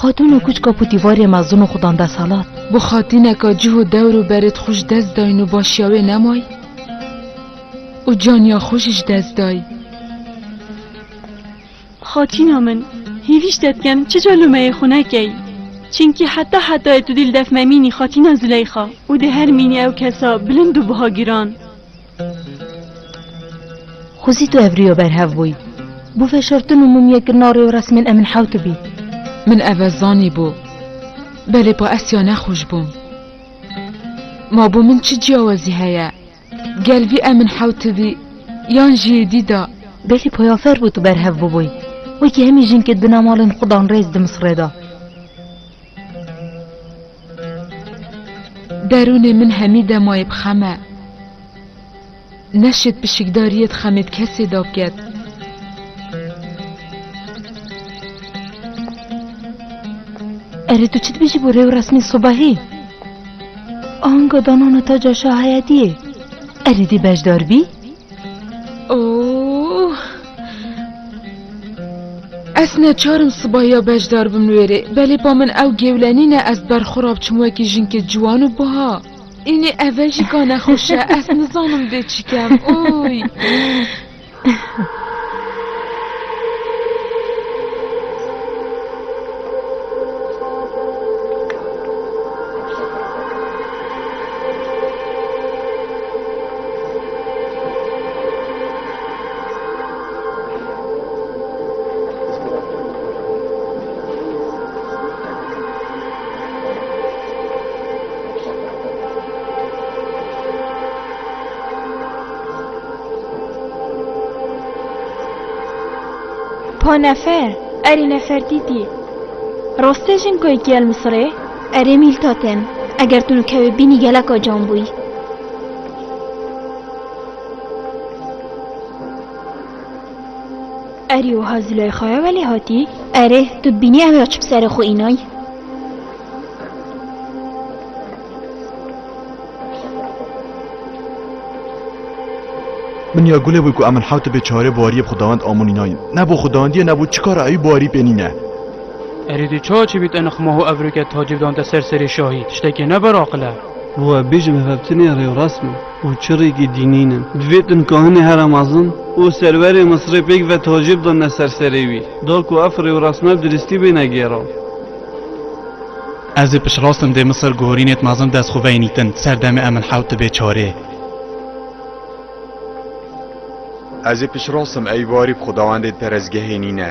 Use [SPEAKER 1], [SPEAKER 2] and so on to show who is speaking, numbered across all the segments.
[SPEAKER 1] Xatûn û kûçka ku dîwarê me zin û xudan de selat. Bo xatîneka cih û dewr û berê di xwe ji dest dayîn û başiya wê nemay û caniya xwe jî ji dest dayî. Xatîna min, hêvî ji te dikem çica lûmeyê xwe nekey. Çimkî heta hetayê tu dî li def memînî xatîna Zileyxa û di her mînî ew kesa bilind û biha giran. Xwezî tu ev rîyo berhev bûyî. Bû veşartin û mumyê kirina rêwresmên em in hew tu bî. Min eve zanîbû. Belê pa Esya nexweş bûm. Ma bo min çi ciyawezî heye? Gel vî em in hew tu bî yan jî yê dîda? Belê poyafer bû tu berhev bûbûyî. Wekî hemî jin ke dina malên xwe dan rêz di Misrê de. Derûnê min hemî demayê bi xem e. Neşê pişikdariyê di xemê di kesê de biket. Erê tu çi dibêjî bo rêw resmê sobahê? Anga danana taca şahayediyê. Erê dê beşdar bî? Oo! Ez neçar im sibaya bejdar bim wê rê, belê ba min ew gewlenîn e ez ber xwe re biçim wekî jinke ciwan û buha. Înê eve jî ka nexweş e, ez nizanim dê çi kem. Oy! Pa nefer, erê nefertîtî. Rastê jin ku yekî el Misirê? Erê mîlta tên. Eger tu nikewê bînî geleka can bûyî. Erê wiha Zileyxaya welê hatî? Erê, tu dibînî ew ya çi bi serê xwe înay? Min ya gulê bû ku em min hewt bê çarê bariyê bi xwedawend amûn înayin. Ne bo xwedawendiye ne bo çi kara ewî barî pê nîne. Erê tu çawa çi bî te nixma ho evrûke tacî bi dante ser serê şahî? Tiştekê ne ber aqil e. Bo ez bêjim hevhevtinê rê û rast bû. û çirrîkî dînî ne. Divê din kahinê here mezin û serwerê Misirê pêk ve tacê bidane ser serê wî, da ku ev rêwrasme bi dirîstî bêne gêra. Ez ê piştrast im dê Misir guhorînê di mezin dest xwe veynîtin, ser demê em in hewt dibe çarê. Ez ê piştrast im ey warî bi xwedawendê di perestgehê nîne.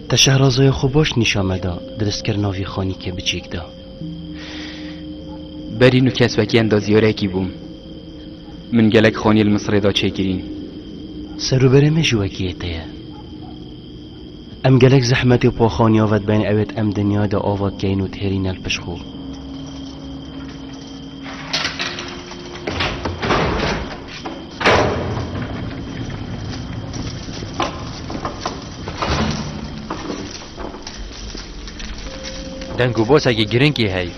[SPEAKER 1] Te şehrazoya xwe baş nîşan meda, diristkirina vî xanîkê biçîk de. Berî nû kes wekî endazîyarekî bûm. Min gelek xanî li Misirê da çêkirîn. Serûberê me jî wekî yê te ye. Em gelek zehmetê pa xanîya ve dibên ewêt em dinyayê de ava dikeyn û dihêrîne li pişt xwe. Deng û bosekî girîngî hey.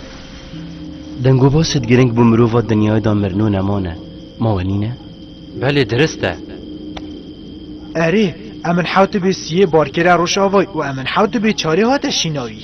[SPEAKER 1] Deng û boset girîng bû mirova dinyayê de mirin û nemane. Ma we nîne? Belê dirist e. Erê, em in hewtibê siyê barkere Rojavayê û em in hewtibê çarê hate şînayî.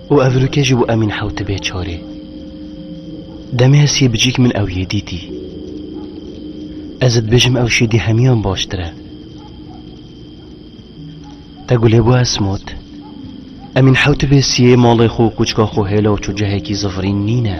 [SPEAKER 1] Û ev rûkê ji bo emîn hewtibê çarê. Demê ez yê bicîk min ew yê dîtî. Ez ê dibêjim ew şî dî hemiyan baştir e. Te gulê bo ez mot. Emîn hewtibê siyê malê xwe û qûçka xwe hêla û çocehekî zivirîn nîn e.